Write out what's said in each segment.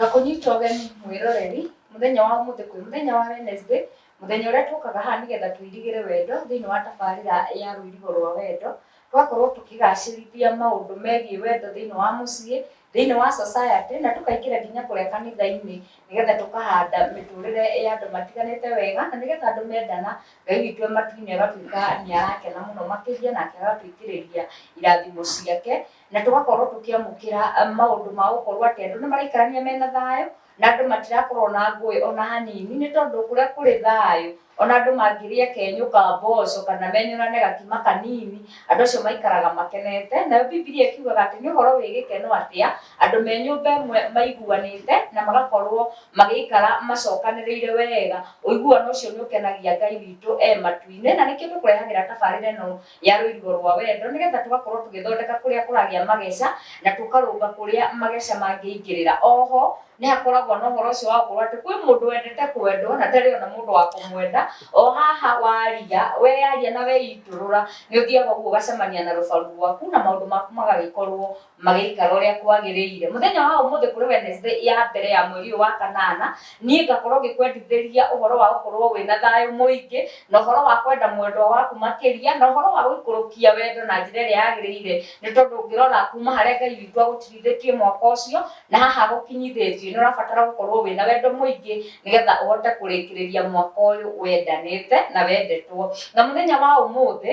Ngakũnyita ũgeni mwĩroreri mũthenya wa ũmũthĩ kwĩ mũthenya wa Wednesday, mũthenya ũrĩa tũkaga haha nĩgetha tũirigĩre wendo thĩinĩ wa tabarĩra ya rũirigo rwa wendo. twakorwo tũkĩgacĩrithia maũndũ megiĩ wendo thĩinĩ wa mũciĩ thĩinĩ wa society na tũkaingĩra nginya kũrĩa kanitha-inĩ nĩgetha tũkahanda mĩtũrĩre ya andũ matiganĩte wega na nĩgetha andũ mendana ngai witũ e matu-inĩ agatuĩka nĩ arakena mũno makĩria nake agatuĩkĩrĩria irathimo ciake na tũgakorwo tũkĩamũkĩra maũndũ ma gũkorwo atĩ andũ nĩ maraikarania mena thayũ na andũ matirakorwo na ngũĩ ona hanini, nĩ tondũ kũrĩa kũrĩ thayũ, ona andũ mangĩrĩa kenyũ ka mboco kana menyũrane gakima kanini, andũ acio maikaraga makenete. Nayo Bibilia ĩkiugaga atĩ nĩ ũhoro wĩ gĩkeno atĩa, andũ me nyũmba ĩmwe maiguanĩte, na magakorwo magĩikara macokanĩrĩire wega. Ũiguano ũcio nĩ ũkenagia Ngai witũ e matu-inĩ, na nĩkĩo tũkũrehagĩra tabarĩra ĩno ya rũirigo rwa wendo nĩgetha tũgakorwo tũgĩthondeka kũrĩa kũragĩa mageca na tũkarũnga kũrĩa mageca mangĩingĩrĩra. Oho nĩ hakoragwo na ũhoro ũcio wa gũkorwo atĩ kwĩ mũndũ wendete kwendwo na ndarĩ ona mũndũ wa kũmwenda. O haha waria, weyaria na weitũrũra nĩ ũthiaga ũguo ũgacemania na rũbaru rwaku na maũndũ maku magagĩkorwo magĩikara ũrĩa kwagĩrĩire mũthenya wa ũmũthĩ kũrĩ Wednesday ya mbere ya mweri ũyũ wa kanana niĩ ngakorwo ngĩkwendithĩria ũhoro wa gũkorwo wĩna thayũ mũingĩ na ũhoro wa kwenda mwendwa waku makĩria na ũhoro wa gũikũrũkia wendo na njĩra ĩrĩa yagĩrĩire nĩ tondũ ũngĩrora kuma harĩa Ngai witũ agũtirithĩtie mwaka ũcio na haha gũkinyithĩtie nĩ ũrabatara gũkorwo wĩna wendo mũingĩ nĩgetha ũhote kũrĩkĩrĩria mwaka ũyũ wendanĩte na wendetwo na mũthenya wa ũmũthĩ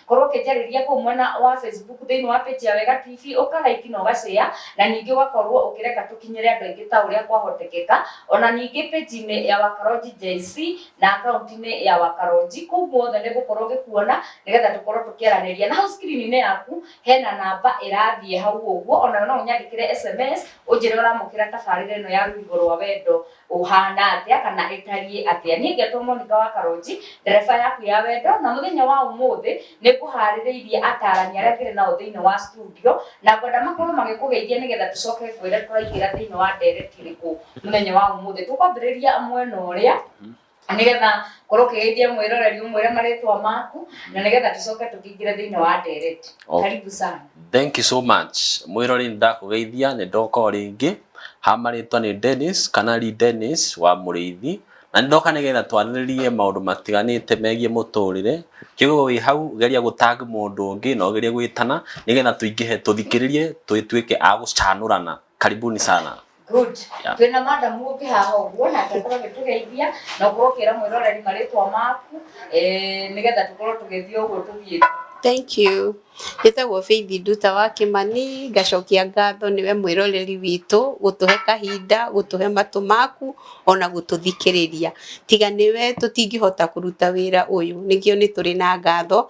Korwo ũkĩnjarĩria kũu mwena wa Facebook thĩinĩ wa page ya Wega TV, ũka like na ũga share, na ningĩ ũgakorwo ũkĩreka tũkinyĩre andũ aingĩ ta ũrĩa kwahotekeka. Ona ningĩ page inĩ ya Wakaronji JC na account inĩ ya Wakaronji, kũu guothe nĩ ngũkorwo ngĩkuona nĩgetha tũkorwo tũkĩaranĩria. Na hau screen inĩ yaku hena namba ĩrathiĩ hau ũguo, onayo no ũnyandĩkĩre sms ũnjĩre ũramũkĩra tabarĩra ĩno ya Rũrigo rwa Wendo. ũhana atĩa kana ĩtariĩ atĩa niĩ ngetwo monika wa karonji ndereba yaku ya wendo na mũthenya wa ũmũthĩ nĩ kũharĩrĩirie atarani arĩa kĩrĩ nao thĩinĩ wa studio na ngwenda makorwo magĩkũgeithia nĩgetha tũcoke kwĩre tũraingĩra thĩinĩ wa ndereti ĩrĩkũ mũthenya wa ũmũthĩ tũkwambĩrĩria mwena ũrĩa nĩgetha korwo ũkĩgeithia mwĩroreri ũmwĩre marĩtwa maku na nĩgetha tũcoke tũkĩingĩre thĩinĩ wa ndereti Oh. karibu sana thank you so much mwĩrori nĩ ndakũgeithia nĩ ndoka o rĩngĩ hamarĩtwa nĩ dennis kana ri dennis wa mũrĩithi na nĩ ndoka nĩgetha twarĩrĩrie maũndũ matiganĩte megiĩ mũtũrĩre kĩguo wĩ hau geria gũtag mũndũ ũngĩ na ũgerie gwĩtana nĩgetha tũingĩhe tũthikĩrĩrie tũtuĩke a gũcanũrana karibuni sana Good. Yeah. Twĩ na madam ũngĩ haha ũguo nake akorwo agĩtũgeithia na ũkorwo ũkĩra mwĩroreri marĩtwa maku eh, nĩgetha tũkorwo tũgĩthiĩ ũguo tũthiĩ Thank you. Njĩtagwo Faith Nduta wa Kĩmani, ngacokia ngatho nĩwe mwĩroreri witũ, gũtũhe kahinda, gũtũhe matũ maku, ona gũtũthikĩrĩria. Tiga nĩwe tũtingĩhota kũruta wĩra ũyũ, nĩkĩo nĩ tũrĩ na ngatho,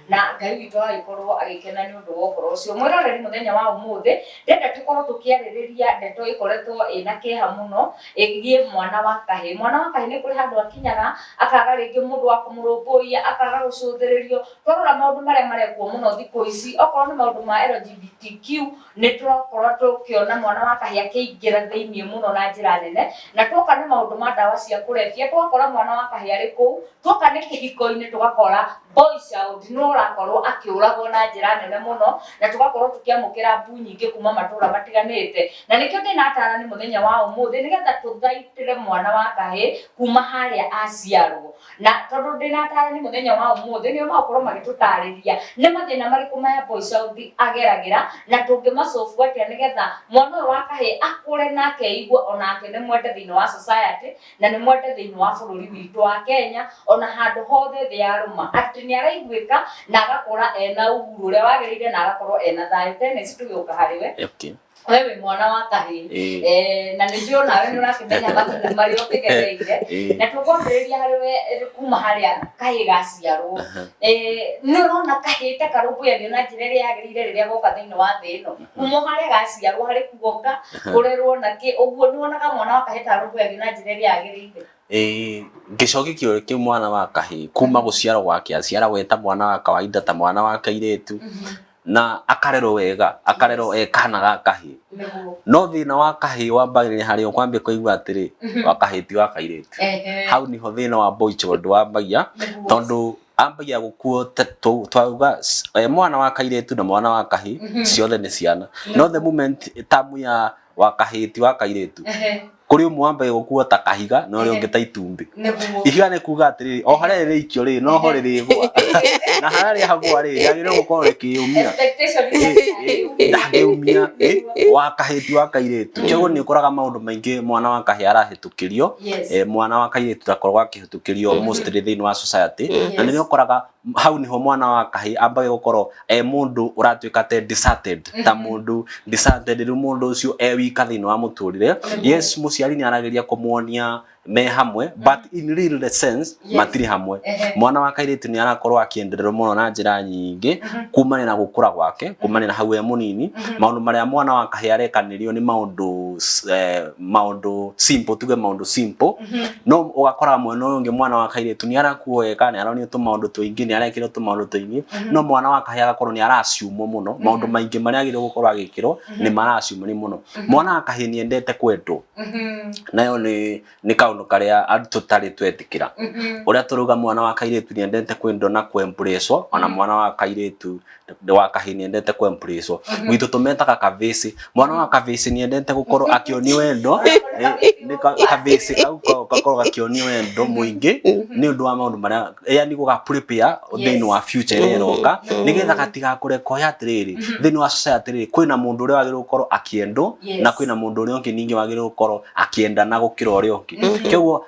Na Ngai witũ agĩkorũo agĩkena nĩ ũndũ wa ũhoro ũcio. Mwĩroreri mũthenya wa ũmũthĩ, ndĩrenda tũkorũo tũkĩarĩrĩria ndeto ĩkoretwo ĩna kĩeha mũno ĩgiĩ mwana wa kahĩĩ. Mwana wa kahĩĩ nĩ kũrĩ handũ akinyaga akaga rĩngĩ mũndũ wa kũmũrũmbũiya, akaga gũcũthĩrĩrio. Twarora maũndũ marĩa marekwo mũno thikũ ici, okorũo nĩ maũndũ ma LGBTQ, nĩ tũrakorũo tũkĩona mwana wa kahĩĩ akĩingĩra thĩinĩ mũno na njĩra nene. Na tuoka nĩ maũndũ ma ndawa cia kũrebia, tũgakora mwana wa kahĩĩ arĩ kũu. Tuoka nĩ kĩhiko-inĩ tũgakora boy child nĩ ũrakorwo akĩũragwo na njĩra nene mũno na tũgakorwo tũkĩamũkĩra mbu nyingĩ kuma matũra matiganĩte na nĩkĩo ndĩnatara nĩ mũthenya wa ũmũthĩ nĩgetha tũthaitĩre mwana wa kahĩ kuma harĩa aciarwo na tondũ ndĩnatara nĩ mũthenya wa ũmũthĩ nĩo magũkorwo magĩtũtarĩria nĩ mathĩna marĩkũ maya boy child ageragĩra na tũngĩmacobu atĩa nĩgetha mwana ũyũ wa kahĩ akũre nake eigue onake nĩ mwende thĩinĩ wa society na nĩ mwende thĩinĩ wa bũrũri witũ wa Kenya ona handũ hothe thĩ ya rũma atĩ nĩ araiguĩka na agakũra ena uhuru ũrĩa wagĩrĩire na agakorwo ena thayũ tene ici tũgĩũka harĩ we Okay. we wĩ mwana wa kahĩĩ Eh. Eh, na nĩ njũĩ onawe nĩ ũrakĩmenya mathĩna marĩa ũkĩgereire Eh. na tũkwambĩrĩria harĩ we eh, kuma harĩa kahĩĩ gaciarwo Aha. Eh, nĩ ũrona kahĩĩ ta karũmbũyagio na njĩra ĩrĩa yagĩrĩire rĩrĩa goka thĩinĩ wa thĩ ĩno kuma harä a gaciarwo harä kuonga kå rerwo na kä å guo nä wonaga mwana wa kahä tarå mbå yagä na njä ra ä rä a yagä rä ire Eh, gĩcoki kĩo kĩ mwana wa kahĩĩ kuma gũciarwo gwake aciaragwo eta mwana wa kawaida ta mwana wa kairĩtu na akarerwo wega akarerwo e kana ga kahĩĩ nä guo no thĩna wa kahĩĩ wambagĩrĩria harĩ o kwambia kũigua atĩrĩ wa kahĩĩ ti wa kairĩtu hau niho thĩna wa boy child wambagia tondũ ambagia gukuo twauga eh, mwana wa kairetu na mwana wa kahi mhm. ciothe ni ciana no the moment tamu ya wa kahi ti wa kairetu kuri umwe wambagia gukuo ta kahiga na uria ungi ta itumbi ihiga ni kuga atiri o haria ri ikio ri no ho ri gwa na haria ri hagwa ri yagire gukorwo rikiumia ndangiumia wa kahi ti wa kairetu koguo ni ukoraga maundu maingi mwana wa kahi arahitukirio eh, mwana wa kairetu ndakoragwo tukĩrio mm. mostly thĩinĩ wa society yes. na nĩ ũkoraga hau niho mwana wa kahĩ ambage gukorwo e mundu uratuika te deserted mm-hmm. ta mundu deserted rĩu mundu ucio e wika thĩinĩ wa muturire mm-hmm. yes muciari nĩ arageria kumuonia me hamwe mm. but in real sense yes. matiri hamwe mwana wa kairĩtu nĩ arakorwo akĩendererwo mũno na njĩra nyingĩ mm-hmm. kumania na gũkũra gwake mm-hmm. kumania na hau e mũnini mm-hmm. maũndũ marĩa mwana wa kahĩa arekanĩrio nĩ maũndũ eh, maũndũ simple tuge maũndũ simple no ũgakora mwena ũyũ ũngĩ mwana wa kairĩtu nĩ arakuo wega nĩ aronio tũmaũndũ tũingĩ nĩ arekĩrwo tũmaũndũ tũingĩ no mwana wa kahĩa agakorwo nĩ araciumwo mũno maũndũ maingĩ marĩa agĩrĩirwo gũkorwo agĩkĩrwo nĩ maraciumwo nĩ mũno mwana wa kahĩa nĩ endete kwendwo nayo nĩ nĩ kaũndũ karĩa andũ tũtarĩ twetĩkĩra ũrĩa tũrauga mwana wa kairĩtu nĩ endete kwendwo na kũ embracewo ona mwana wa kairĩtu nĩ wa kahĩ nĩendete kwembrĩcwo gwitũ tũmetaga kabĩci mwana wa kabĩci nĩendete gũkorwo akĩonio wendo Eh, nĩ ka- kabĩci kau ko- gakorwo gakĩonio wendo mũingĩ nĩ ũndũ wa maũndũ marĩa yani gũgaprepare thĩinĩ wa future ĩrĩa ĩroka nĩgetha gatigakũre koya atĩrĩrĩ thĩinĩ wa society rĩrĩ kwĩna mũndũ ũrĩa wagĩrĩirwo gũkorwo akĩendwo Yes. na kwĩna mũndũ ũrĩa ũngĩ ningĩ wagĩrĩirwo gũkorwo akĩendana gũkĩra ũrĩa ũngĩ kĩguo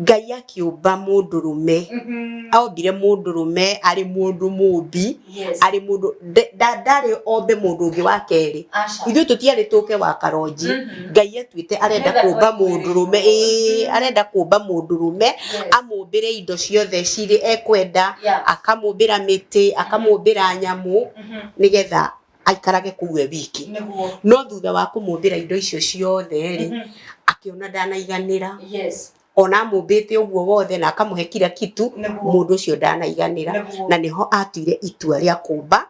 ngai akĩũmba mũndũrũme aombire mũndũrũme arĩ mũndũ mũmbi Yes. arĩ mũndũ nde- nda- ndarĩ ombe mũndũ ũngĩ wa kerĩ Aca. ithuĩ tũtiarĩ tũke wa karonji Mhm. ngai atuĩte arenda Nĩgetha kũmba twaiguĩre. mũndũrũme ĩĩ arenda kũmba mũndũrũme amũmbĩre indo ciothe cirĩ ekwenda Yeah. akamũmbĩra mĩtĩ akamũmbĩra nyamũ Mhm. nĩgetha aikarage kũu e wiki nĩguo no thutha wa kũmũmbĩra indo icio ciothe rĩ Mhm. akĩona ndanaiganĩra yes ona amũmbĩte ũguo wothe na akamũhe kira kitu nĩguo mũndũ ũcio ndanaiganĩra nĩguo na nĩho atuire itua rĩa kũmba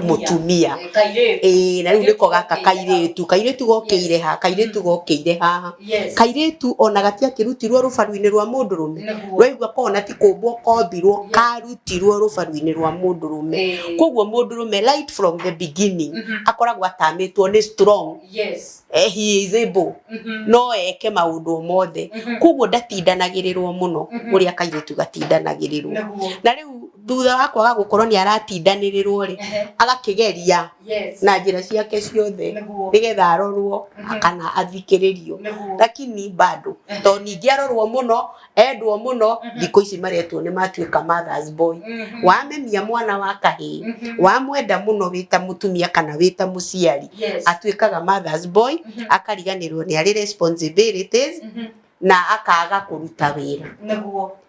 mũtumia. Eh, kairĩtu ĩĩ na rĩu nĩko gaka kairĩtu kairĩtu gokĩire ha kairĩtu gokĩire haha Yes. kairĩtu ona gatiakĩrutirwo rũbaru-inĩ rwa mũndũ rũme Nĩguo. waigua kona ti kũmbwo kombirwo Yeah. karutirwo rũbaru-inĩ rwa mũndũ rũme Eh. koguo mũndũ rũme right from the beginning Mhm. akoragwo atamĩtwo nĩ strong Yes. eh, he is able Mhm. no eke maũndũ o mothe Mhm. koguo ndatindanagĩrĩrwo mũno Mhm. ũrĩa kairĩtu gatindanagĩrĩrwo Nĩguo. na rĩu thutha wa kwaga gũkorwo nĩ aratindanĩrĩrwo rĩ Ehe. agakĩgeria Yes. na njĩra ciake ciothe Nĩguo. nĩgetha arorwo Mhm. kana athikĩrĩrio Nĩguo. lakini bado tondũ ningĩ arorwo mũno endwo mũno Mhm. thikũ ici maretwo nĩ matuĩka mothers boy Mhm. wamemia mwana wa kahĩĩ Mhm. wamwenda mũno wĩ ta mũtumia kana wĩ ta mũciari Yes. atuĩkaga mothers boy Mhm. akariganĩrwo nĩ arĩ responsibilities Mhm. na akaga kũruta wĩra Nĩguo.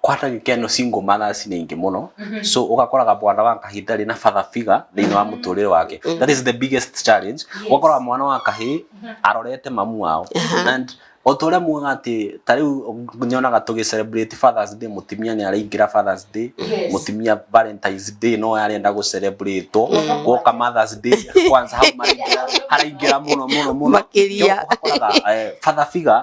kwata gikeno single mothers nĩ ingĩ mũno Mhm. so ũgakoraga mwana wa kahĩ ndarĩ na father figure thĩinĩ wa mũtũrĩre wake Mhm. that is the biggest challenge Yes. ũgakoraga mwana wa kahĩ Mhm. arorete mamu wao Aha. and o ta ũrĩa mugaga atĩ ta rĩu nyonaga tũgĩ celebrate fathers day mũtumia nĩ araingĩra fathers day Yes. mũtumia valentines day no arenda gũ celebrate Mm. gwoka mothers day kwanza hau maraingĩra- haraingĩra mũno mũno mũno makĩria Ũgakoraga, eh, father figure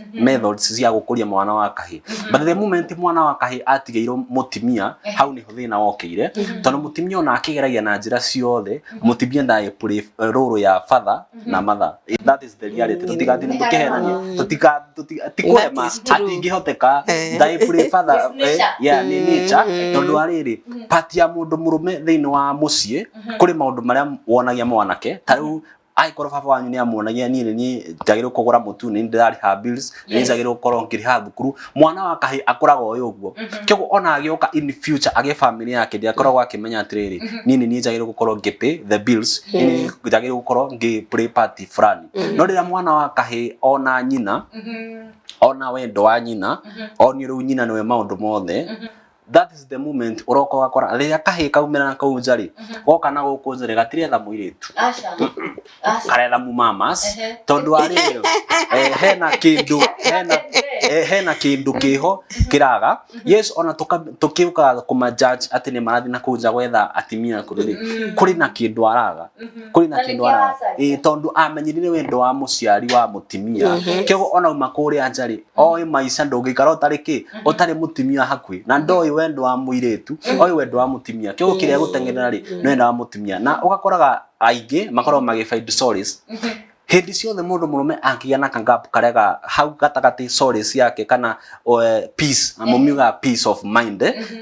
Mhm. methods cia gũkũria mwana wa kahĩ Mhm. but the moment mwana wa kahĩ atigĩirwo mũtimia Eh. hau nĩho thĩna wokĩire Mhm. tondũ mũtimia ona akĩgeragia na njĩra ciothe Mhm. mũtimia ndaĩ play rũrũ ya father Mhm. na mother that is the reality Mm. tũtigathiĩ Nĩ tũkĩhenania harĩa tũtika tũti- ti That kũrema is true. atingĩhoteka Eh. ndaĩ play father It's nature. eh, yeah nĩ nature Mhm. tondũ arĩrĩ Mhm. pati ya mũndũ mũrũme thĩinĩ wa mũciĩ Mhm. kũrĩ maũndũ marĩa wonagia mwanake ta rĩu angĩkorwo baba wanyu nĩ amuonagia niĩ nĩ niĩ njagĩrĩirwo kũgũra mũtu nĩ niĩ ndĩrarĩha bills nĩ niĩ Yes. njagĩrĩirwo gũkorwo ngĩrĩha thukuru mwana wa kahĩ akũraga ũyũ ũguo kĩguo ona agĩũka in future agĩ family yake ndiakoragwo akĩmenya atĩrĩrĩ niĩ nĩ niĩ njagĩrĩirwo gũkorwo ngĩpay the bills niĩ nĩ niĩ njagĩrĩirwo gũkorwo ngĩ play party fulani no rĩrĩa mwana wa kahĩ ona nyina ona wendo wa nyina onio rĩu nyina nĩwe maũndũ mothe that is the moment uroka ugakora rĩrĩa kahĩ kaumĩra na kau nja rĩ Mhm. goka na gũkũ nja rĩ gatiretha mũirĩtu Aca. Aca. karetha mumamas Ehe. tondũ wa rĩrĩ eh, hena kĩndũ hena Ehe. eh, hena kĩndũ kĩho kĩraga yes ona tũka- tũkĩũka kũmanjudge atĩ nĩ marathiĩ na kũu nja gwetha atimia akũrũ rĩ Mm. kũrĩ na kĩndũ araga Mhm. kũrĩ na Na kĩndũ nĩkĩo araga aracaria. Ĩĩ, tondũ amenyerire wendo wa mũciari wa mũtimia Mhm. kĩguo ona uma kũrĩa nja rĩ oĩ maica ndũngĩikara ũtarĩ kĩ ũtarĩ mũtumia hakuhĩ na ndoĩ wendo wa mũirĩtu oĩ wendo wa mũtumia kĩu kĩrĩa gũteng'erera rĩ nĩ wendo wa mũtumia na ũgakoraga aingĩ makoragwo magĩfind solace hĩndĩ ciothe mũndũ mũrũme angĩgĩa na kangap karĩa ga hau gatagatĩ solace yake kana eh, peace na mũmiugaga peace of mind eh,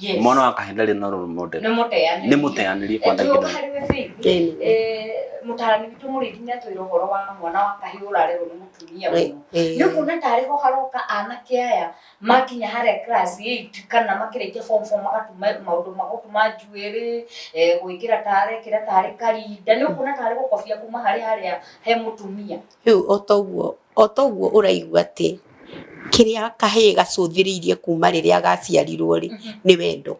Yes. mwana wa kahä ndarä na rå må Nĩ mũteanĩrie. nä må teanä kwa Twĩ ũka harĩ we Faith. Ĩni. Eh, mũtarani witũ mũrĩithi nĩ atwĩra ũhoro wa mwana wa kahĩĩ ũrarerwo nĩ mũtumia mũno nĩ kuona tarĩ ho haroka anake aya makinya harĩa class 8 kana makĩrĩkia form 4 magatuma maũndũ magũtuma njuĩrĩ eh, gwĩkĩra tarĩ kĩra tarĩ karinda nĩ kuona tarĩ gũkobia kuma harĩa harĩa he mũtumia Rĩu o ta ũguo, o ta ũguo ũraigua atĩ kĩrĩa kahĩĩ gacũthĩrĩirie kuma rĩrĩa gaciarirwo rĩ, nĩ wendo.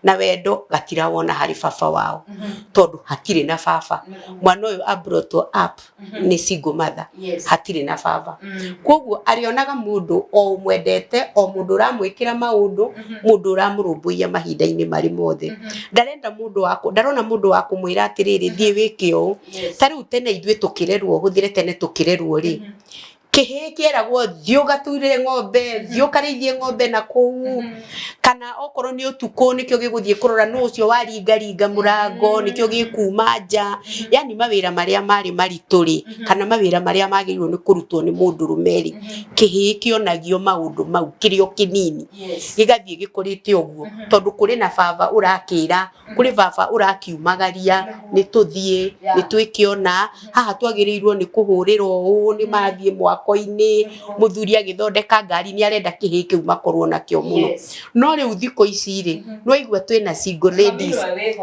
Na wendo gatirona harĩ baba wao, tondũ hatirĩ na baba. Mwana ũyũ a brought up nĩ single mother, hatirĩ na baba. Kũguo arĩonaga mũndũ o ũmwendete, o mũndũ ũramwĩkĩra maũndũ, mũndũ ũramũrũmbũiya mahinda-inĩ marĩ mothe. Ndarenda mũndũ wa, ndarona mũndũ wa kũmwĩra atĩrĩrĩ thiĩ wĩke ũũ. Yes. ta rĩu tene ithuĩ tũkĩrerwo hũthĩre tene tũkĩrerwo rĩ Mhm. kĩhĩ kĩeragwo thiĩ ũgature ng'ombe thiĩ ũkarĩithie ng'ombe na kũu Mhm. kana okorwo nĩ ũtukũ nĩkĩo gĩgũthiĩ kũrora nũ ũcio waringaringa mũrango Mm. nĩkĩo gĩkuma nja Mhm. yani mawĩra marĩa marĩ maritũ rĩ Mhm. kana mawĩra marĩa magĩrĩirwo nĩ kũrutwo nĩ mũndũrũme rĩ Mhm. kĩhĩ kĩonagio maũndũ mau kĩrĩ o kĩnini Yes. gĩgathiĩ gĩkũrĩte ũguo Mhm. tondũ kũrĩ na baba ũrakĩra kũrĩ baba ũrakiumagaria nĩ tũthiĩ nĩ twĩkĩona haha twagĩrĩirwo nĩ kũhũrĩrwo ũũ nĩ mathiĩ mwako-inĩ mũthuri agĩthondeka ngari nĩ arenda kĩhĩĩ kĩu makorwo nakĩo mũno no rĩu thikũ ici rĩ nĩ waigua twĩna single ladies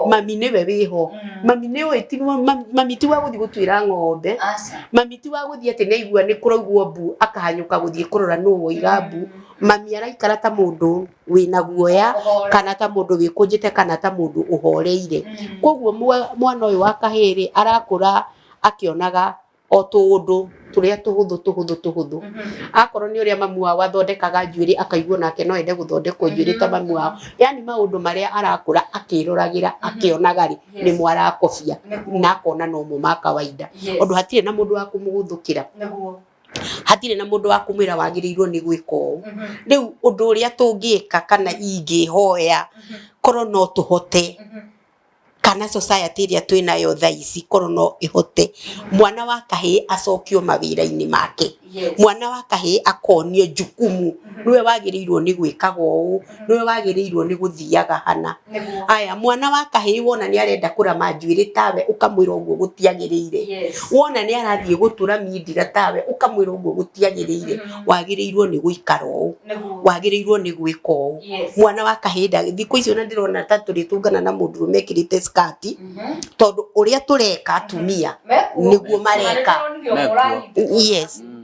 mami nĩwe wĩho mami nĩ ũĩ ti mami- mami ti wa gũthiĩ gũtuĩra ng'ombe mami ti wa gũthiĩ atĩ naigua nĩ kũraugwo mbu akahanyũka gũthiĩ kũrora nũ woiga mbu mami araikara ta mũndũ wĩna guoya kana ta mũndũ wĩkũnjĩte kana ta mũndũ ũhoreire koguo mwa- mwana ũyũ wa kahĩrĩ arakũra akĩonaga o tũũndũ tũrĩa tũhũthũ tũhũthũ tũhũthũ akorwo nĩ ũrĩa mamu wao athondekaga njuĩrĩ akaigua nake no ende gũthondekwo njuĩrĩ ta mamu wao yani maũndũ marĩa arakũra akĩroragĩra akĩonaga rĩ nĩmo arakobia na akona nomo ma kawaida ũndũ hatirĩ na mũndũ wa kũmũgũthũkĩra hatirĩ na mũndũ wa kũmwĩra wagĩrĩirwo nĩ gwĩka ũũ. Rĩu ũndũ ũrĩa tũngĩka kana ingĩhoya korwo no tũhote kana society ĩrĩa twĩ nayo thaa ici korwo no ĩhote mwana wa kahĩĩ acokio mawĩra-inĩ make. Mwana wa kahĩĩ akonio jukumu nĩwe wagĩrĩirwo nĩ gwĩkaga ũũ, nĩwe wagĩrĩirwo nĩ gũthiaga hana aya mwana wa kahĩĩ wona nĩ arenda kũrama njuĩrĩ tawe ũkamwĩra ũguo gũtiagĩrĩire Yes. wona nĩ arathiĩ gũtũra mindira tawe ũkamwĩra ũguo gũtiagĩrĩire Mhm. wagĩrĩirwo nĩ gũikara ũũ Nĩguo. wagĩrĩirwo nĩ gwĩka ũũ Yes. mwana wa kahĩĩ ndagĩ thikũ icio na ndĩrona ta tũrĩtũngana na mũndũ ũrũme ekĩrĩte skati Mhm. tondũ ũrĩa tũreka atumia Mekuo. nĩguo mareka Nĩguo Mekuo. yes Mm.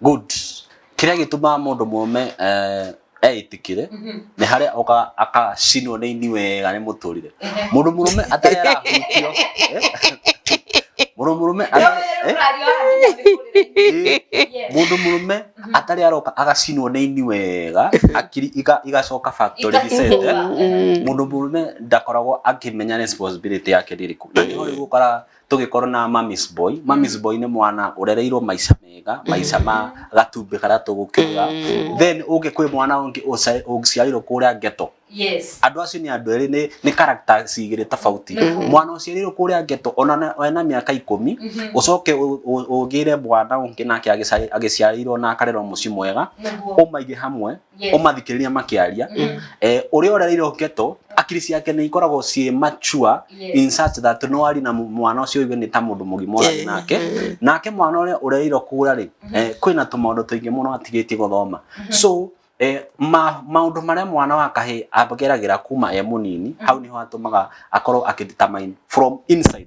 Good. Kĩrĩa gĩtũmaga mũndũ mũrũme eh, eĩtĩkĩre nĩ harĩa oka akacinwo nĩ ini wega nĩ mũtũrire mũndũ mũrũme atarĩ arahutio eh, mũndũ mũrũme atarĩ- eh, eh, mũndũ mũrũme atarĩ aroka agacinwo nĩ ini wega akiri iga- igacoka factory reset, eh. mũndũ mũrũme ndakoragwo akĩmenya responsibility yake nĩ ĩrĩkũ na nĩho rĩu ũkoraga tũgĩkorwo na mamis boy mamis boy nĩ mwana ũrereirwo maica mega maica ma gatumbĩ karĩa tũgũkiuga Mm. then ũngĩ kwĩ mwana ũngĩ ũca- ũciarĩirwo kũrĩa ngeto yes andũ acio nĩ andũ erĩ nĩ- nĩ character cigĩrĩ tofauti Mhm. mwana ũciarĩirwo kũrĩa ngeto ona na- ena mĩaka ikũmi Mhm. ũcoke ũ- ũ- ũgĩre mwana ũngĩ nake agĩca- agĩciarĩirwo na akarerwo mũciĩ mwega nĩguo ũmaige hamwe Yes. ũmathikĩrĩria makĩaria Mhm. eh, ũrĩa ũrereirwo ngeto akiri ciake nĩ ikoragwo ciĩ mature Yes. in such that no ari na mũ- mwana ũcio ũigue nĩ ta mũndũ mũgima ũrarĩ nake nake mwana ũrĩa ũrereirwo kũra rĩ eh, kwĩna tũmaũndũ tũingĩ mũno atigĩtie gũthoma so eh, ma, maũndũ marĩa mwana wa kahĩ ageragĩra kuma e mũnini hau nĩho atũmaga akorwo akĩdetermine from inside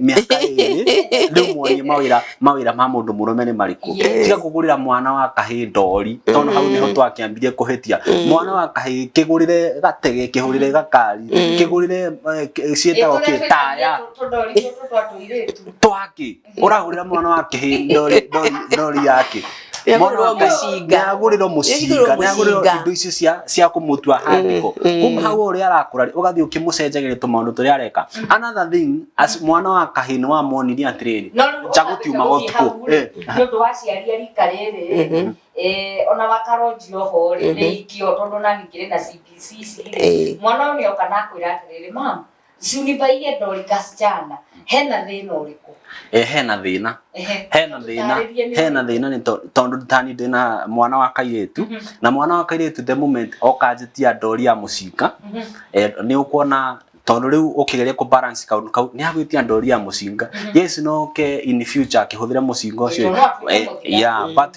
mĩaka ĩrĩ rĩu muonie mawĩra mawĩra ma mũndũ mũrũme nĩ marĩkũ Yes. tiga kũgũrĩra mwana wa kahĩĩ ndori tondũ hau nĩho twakĩambirie kũhĩtia mwana wa kahĩĩ kĩgũrĩre gatege kĩhũrĩre gakari kĩgũrĩre eh, kĩ- ciĩtagwo kĩ taya twaki ũragũrĩra mwana wa kĩhĩĩ ndori ndori ndori yake Nĩagũrĩrwo Mwana wake mũcinga. nĩagũrĩrwo mũcinga Nĩagũrĩrwo nĩagũrĩrwo mũcinga. indo icio cia cia kũmũtua handĩko Mm, mm. kuma hau ũrĩa arakũra ũgathiĩ ũkĩmũcenjagĩria tũmaũndũ tũrĩa areka another thing as mwana wa kahĩĩ nĩ wamonirie atĩrĩrĩ No rĩu nja gũtiumaga ũgatuĩka ũtukũ gũthiĩ hau rĩ, Eh, nĩ ũndũ wa aciari a rika rĩrĩ Mhm. eh, ona wakaronjio ho rĩ Mhm. nĩ ikio tondũ nani kĩrĩ na CPC Eh. rĩ mwana ũyũ nĩoka na akwĩra atĩrĩrĩ mam Zunibaie Dorcas Chanda hena thĩna ũrĩkũ? Eh, hena thĩna Ehe. hena thĩna Tũtarĩrie nĩ- hena thĩna nĩ to- tondũ tani ndĩna mwana wa kairĩtu Mhm. na mwana wa kairĩtu the moment okanjĩtia ndori ya mũcinga Mhm. eh, nĩ ũkuona tondũ rĩu ũkĩgeria kũ balance kaũndũ kau nĩ agwĩtia ndori ya mũcinga yes no ke in future akĩhũthĩra mũcinga ũcio Tondũ no akorwo Eh, mũthigari. yeah, but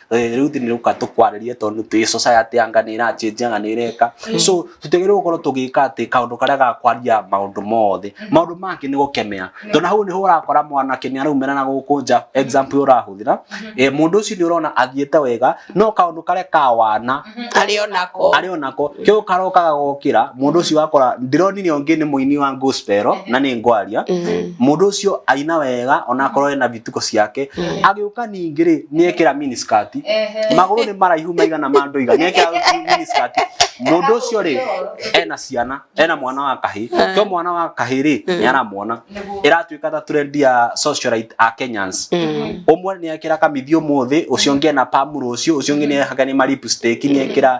Eh, rĩu thini rĩuka tũkwarĩrie tondũ twĩ society ya nga nĩ ĩrachinja nga nĩ ĩreka so tũtigĩrĩirwo gũkorwo tũgĩka atĩ kaũndũ karĩa gakwaria maũndũ mothe maũndũ mangĩ nĩ gũkemea tondũ hau nĩho ũrakora mwanake nĩ araumĩra na gũkũ nja example ũyũ ũrahũthĩra eh, mũndũ ũcio nĩ ũrona athiĩte wega no kaũndũ karĩa kawana arĩ onako arĩ onako kĩu karoka gagokĩra mũndũ ũcio wakora ndironire ũngĩ nĩ mũini wa gospel na nĩ ngwaria mũndũ ũcio aina wega onakorwo ena ituko ciake agĩũka ningĩ rĩ nĩekĩra miniskirt magũrũ nĩ maraihu maigana ma ndoiga nĩekĩra miniskirt mũndũ ũcio rĩ ena ciana ena mwana wa kahĩ to mwana wa kahĩ rĩ nĩaramwona ĩratuĩka ta trend ya socialite a Kenyans ũmwe nĩekĩra kamithi ũmũthĩ ũcio ũngĩ ena pam rũciũ ũcio ũngĩ nĩehaka nĩ ma lipstick nĩekĩra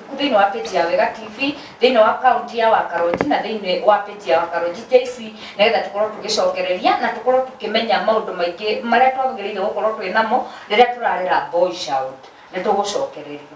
thĩinĩ wa page ya Wega TV thĩinĩ wa account ya Wakaronji na thĩinĩ wa page ya Wakaronji JC nĩgetha tũkorwo tũgĩcokereria na tũkorwo tũkĩmenya maũndũ maingĩ marĩa twagĩrĩire gũkorwo twĩ namo rĩrĩa tũrarera boy child nĩ tũgũcokereria